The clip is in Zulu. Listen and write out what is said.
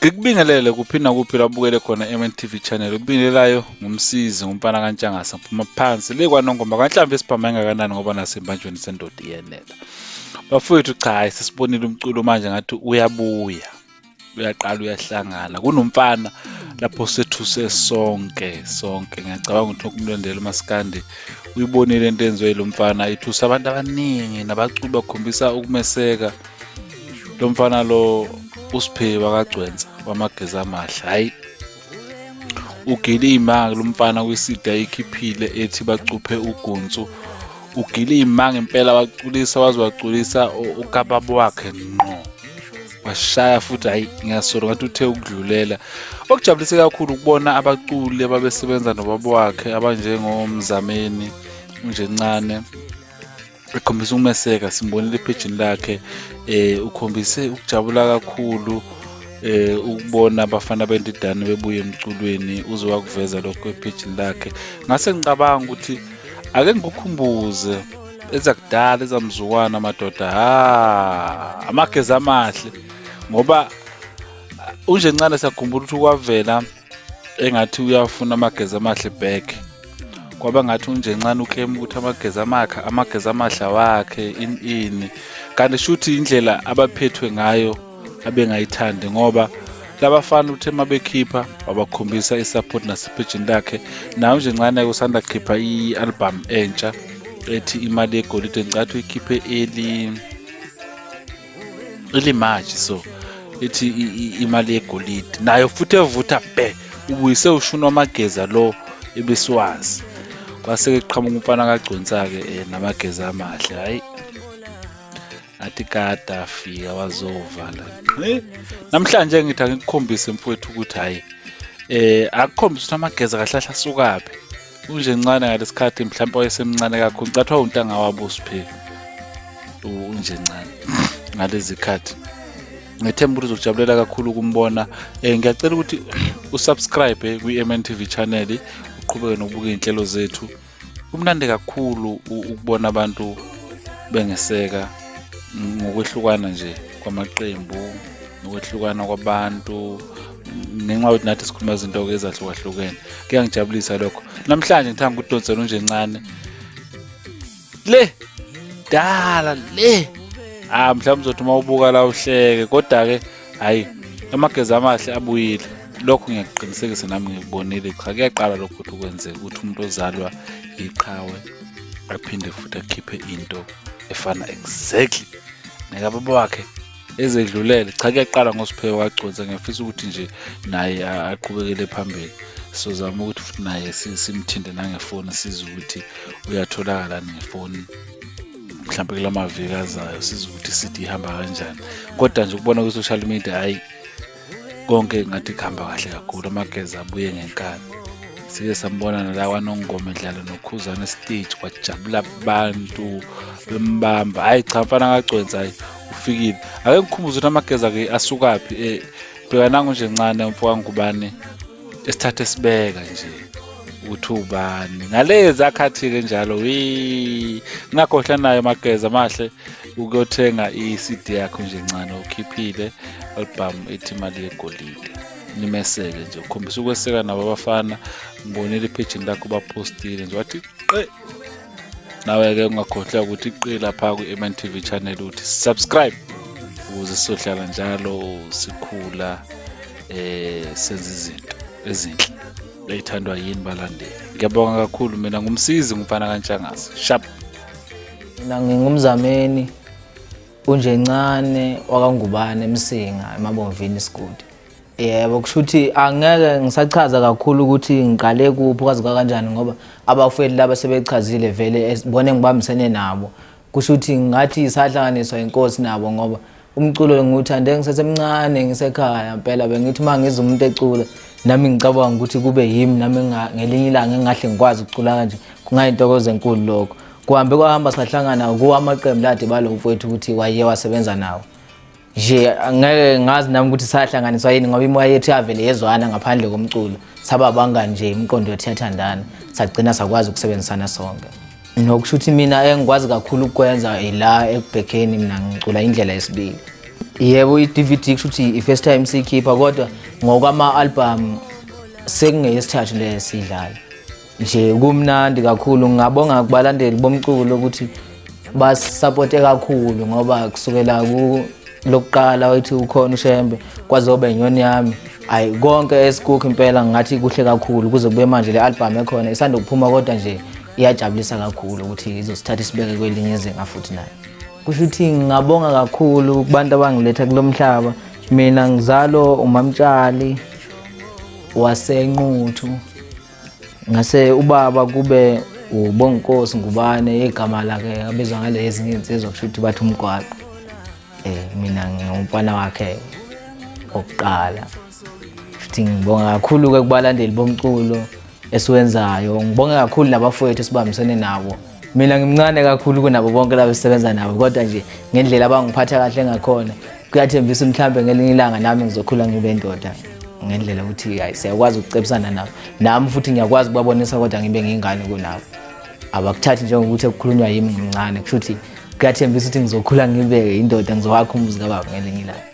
ngikubingelele kuphi nakuphi labukele khona MNTV channel ukubingelelayo ngumsizi ngumfana kantshangasa phuma phansi le kwanongoma kanhlambe isiphama engakanani ngoba nasembanjweni sendoda iyenela bafowethu cha sesibonile umculo manje ngathi uyabuya uyaqala uyahlangana kunomfana lapho sethuse sonke sonke ngiyacabanga ukuthi lokumlandela umasikandi uyibonile into enziwe yilo mfana ithusa abantu abaningi nabaculi bakhombisa ukumeseka lo mfana lo usiphe wakagcwensa wamageza amahle hhayi ugile imanga lo mfana kwisidi ayikhiphile ethi bacuphe ugunsu ugile imanga impela waculisa waze waculisa ukababa wakhe ngqo washaya futhi hayi ngiyasolo ngathi uthe ukudlulela okujabulise kakhulu ukubona abaculi ababesebenza nobaba wakhe abanjengomzameni unjencane ekhombisa ukumeseka simbonile ephejini lakhe eh ukhombise ukujabula kakhulu eh ukubona abafana bendidane bebuye emculweni uze wakuveza lokho ephejini lakhe ngase ngicabanga ukuthi ake ngikukhumbuze ezakudala ezamzukwana amadoda ha amagezi amahle ngoba uh, unje ncane sakhumbula ukuthi kwavela engathi uyafuna amagezi amahle back kwaba ngathi unje ncane uclaim ukuthi amagezi amakha amagezi amahle wakhe ini ini kanti shuthi indlela abaphethwe ngayo abengayithandi ngoba labafana uthe uma bekhipha wabakhombisa i-support nasepejini lakhe nayo nje ncane usanda khipha i-albhamu entsha ethi imali yegolide ngicathi uyikhiphe eli elimaji so ethi imali yegolide nayo futhi evutha bhe ubuyise ushuni wamageza lo ebesiwazi kwase-ke kuqhamuka umfana kagconsa-ke um eh, namageza amahle hhayi athi kade afika wazovala namhlanje ngithi angikukhombise mfowethu ukuthi hhayi eh akukhombisa ukuthi amageza kahlahla sukaphi unje ncane ngalesikhathi mhlawumbe wayesemncane kakhulu ngicathiwa untanga wabo usipheli unje ncane ngalezi khathi ngethemba ukuthi uzokujabulela kakhulu ukumbona um ngiyacela ukuthi usubscribe kwi-mntv channel uqhubeke nokubuka iy'nhlelo zethu kumnandi kakhulu ukubona abantu bengeseka ngokwehlukana nje kwamaqembu nokwehlukana kwabantu ngenxa yokuthi nathi sikhuluma izinto-ke ezahlukahlukene kuyangijabulisa lokho namhlanje ngithanda ukudonsela unje ncane le dala le ah mhlawumbe uzothi uma ubuka la uhleke kodwa-ke hhayi amageza amahle abuyile lokho ngiyakuqinisekisa nami ngikubonile cha kuyaqala lokho ukuthi kwenzeka ukuthi umuntu ozalwa yiqhawe aphinde futhi akhiphe into efana exactly nekababa wakhe ezedlulele cha kuyaqala ngosiphewe waconsa ngiyafisa ukuthi nje naye aqhubekele phambili sizozama ukuthi futhi naye simthinte nangefoni sizwe ukuthi uyatholakala ngefoni mhlawumbe kula maviki azayo sizwa ukuthi city ihamba kanjani kodwa nje ukubona kwi-social media hhayi konke ngathi kuhamba kahle kakhulu amageza abuye ngenkani sike sambona nala kwanongoma edlala nokhuzane stage kwajabula abantu bembamba hhayi cha mfana kagcwenza hhayi ufikile ake ngikhumbuze ukuthi amageza-ke asukaphi um eh, bheka nangu nje ncane umfo kangubane esithathe sibeka nje ukuthi ubani ngalezi akhathi-ke njalo wi ngingakhohlwa nayo mageza amahle ukuyothenga i-cd yakho nje ncane ukhiphile album ethi imali yegolide nimeseke nje ukhombisa ukweseka nabo abafana ngibonile iphejini lakho baphostile nje wathi qe nawe-ke ungakhohlwa ukuthi qe lapha kwi-mn tv channel uthi subscribe ukuze sizohlala njalo sikhula eh senza izinto ezinhle leyithandwa yini balandeli ngiyabonga kakhulu mina ngumsizi ngumfana kantshangase sharp mina ngingumzameni unje ncane wakangubane emsinga emabomvini isigodi yebo kusho ukuthi angeke ngisachaza kakhulu ukuthi ngiqale kuphi kwazi kwakanjani ngoba abafowethu laba sebechazile vele bona engibambisene nabo kusho ukuthi ngathi sahlanganiswa inkosi nabo ngoba umculo ngiwuthande ngisesemncane ngisekhaya mpela bengithi uma ngizwa umuntu ecula nami ngicabanga ukuthi kube yimi nami ngelinye ilanga engahle ngikwazi ukucula kanje kungayintokozo enkulu lokho kuhambe kwahamba sahlangana kuwa amaqembu lade balo mfowethu ukuthi waye wasebenza nawo nje ngeke ngazi nami ukuthi sahlanganiswa yini ngoba imoya yethu yavele yezwana ngaphandle komculo saba bangani nje imiqondo yethu yathandana sagcina sakwazi ukusebenzisana sonke nokusho ukuthi mina engikwazi kakhulu ukukwenza ila ekubhekeni mina ngicula indlela yesibili yebo i-dvd kusho ukuthi i-first time siyikhipha kodwa ngokwama-albhamu sekungeyesithathu le siyidlala nje kumnandi kakhulu ngingabonga kubalandeli bomculo ukuthi basisapote kakhulu ngoba kusukela lokuqala wathi ukhona ushembe kwazoba inyoni yami ayi konke esikukho impela ngathi kuhle kakhulu kuze kube manje le album ekhona isanda kuphuma kodwa nje iyajabulisa kakhulu ukuthi izosithatha isibeke kwelinye izinga futhi nayo kusho ukuthi ngingabonga kakhulu kubantu abangiletha kulo mhlaba mina ngizalo umamtshali wasenquthu ngase ubaba kube ubonginkosi ngubane igama lakhe abizwa ngale ezinye izinsizwa kusho ukuthi bathi umgwaqo um mina ngingumfana wakhe wokuqala futhi ngibonga kakhulu-ke kubalandeli bomculo esiwenzayo ngibonge kakhulu nabafowethu esibambisene nabo mina ngimncane kakhulu kunabo bonke labo sisebenza nabo kodwa nje ngendlela abangiphatha kahle ngakhona kuyathembisa mhlawumbe ngelinye ilanga nami ngizokhula ngibe ndoda ngendlela ukuthi hayi siyakwazi ukucebisana nabo nami futhi ngiyakwazi ukubabonisa kodwa ngibe ngingane kunabo abakuthathi njengokuthi kukhulunywa yimi ngimncane kusho ukuthi kuyathembisa ukuthi ngizokhula ngibe indoda ngizowakha umuzi kababa ngelinye ilanga